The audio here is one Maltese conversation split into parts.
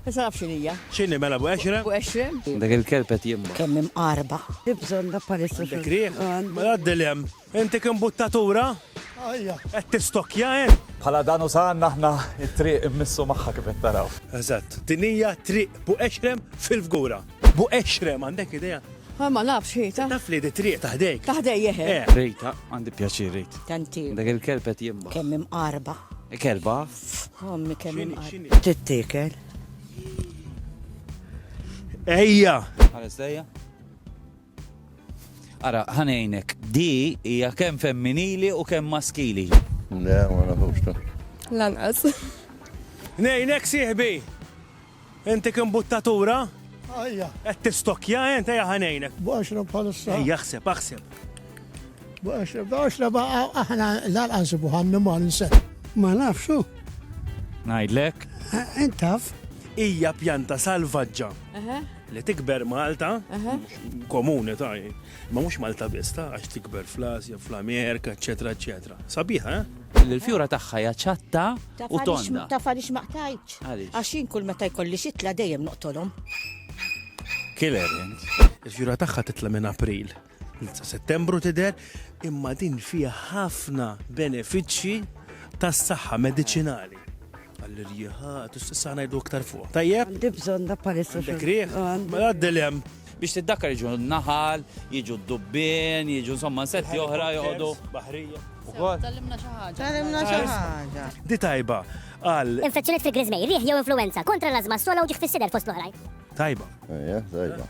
Issa naf x'inhi hija. X'inhi mela Abu Qexrem? Abu Qexrem. Dak il-kelb qed jimma. Kemm imqarba. Hi bżonna bħalissa xogħol. Għandek riħ? Għandi. Mela għaddi 'l hemm. Inti kien buttatura? Ajja. Qed tistokkja int? Bħala dan u saħanna aħna t-triq immissu magħha kif qed taraw. Eżatt. Din hija triq Abu Qexrem fil-Fgura. Abu Qexrem, għandek idea? Ħa ma nafx hi ta. Taf li di triq ta' ħdejk. Ta' ħdejja eħe. Eh. Rejta, għandi pjaċir rejt. Tant hi. Dak il-kelb qed jimma. Kemm imqarba. Kelba? Ommi kemm imqar. Tittiekel. Ejja! Ħares dejja. Ara, ħanejnek, di hija kemm femminili u kemm maskili. Le, ma nafux ta. Lanqas. Nejnek sieħbi. Inti kien buttatura? Ajja. Qed tistokkja int ejja ħa ngħinek. B'għaxra bħalissa. Ejja aħseb, aħseb. B'għaxra, b'għaxra baqa' aħna l-għalqa nsibu ħanni mar nseħ. Ma nafxu. Ngħidlek. Intaf. Hija pjanta salvaġġa li tikber Malta, komuni ta' Imma mhux Malta biss ta' għax tikber fl-Asja, fl-Amerika, eċċetera eċċetera. Sabiħa, eh? Li l-fjura tagħha hija ċatta u tonda. Taf għaliex ma qtajtx? Għaliex? Għax jien kull meta jkolli xitla dejjem noqtolhom. Killer int. Il-fjura tagħha titla' minn April. Settembru tidher imma din fiha ħafna benefiċċji tas-saħħa mediċinali. Għall-irjiħa, tista' ngħidu aktar fuq. Tajjeb? Għandi bżonn da palissa. Dik riħ? Għaddilem. Biex tiddakkar jiġu naħal, jiġu d-dubbien, jiġu insomma nsetti oħra joqogħdu. Baħrija. Tallimna xi ħaġa. Tallimna xi ħaġa. Di tajba għal. Infezzjoniet fil-grizmej, riħ jew influenza kontra l-azma sola u ġiħ fis-sider fost l-oħrajn. Tajba. Ejja, tajba.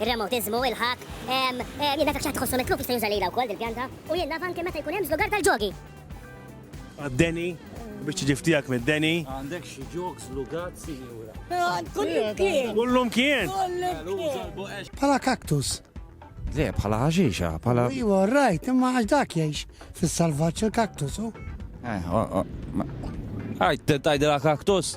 Ir-remotiżmu, il-ħakk, ehm, ehm, jien dak xi ħadd iħossu mitluf jista' juża lilha wkoll dil-pjanta. U jien naf anke meta jkun hemm żlugar tal-ġogi. Għad-deni, biex tiġi ftiegħek mid-deni. Għandek xi ġog żlugat, sinjura? Għand kullimkien! Kullimkien! Kullimkien! Bħala kaktus. Le, bħala ħaxixa, bħala. Iwa, rajt, imma għax dak jgħix fis-salvaġġ il-kaktus, u. Eh, oh, oh, ma- Għajt, tajdela kaktus?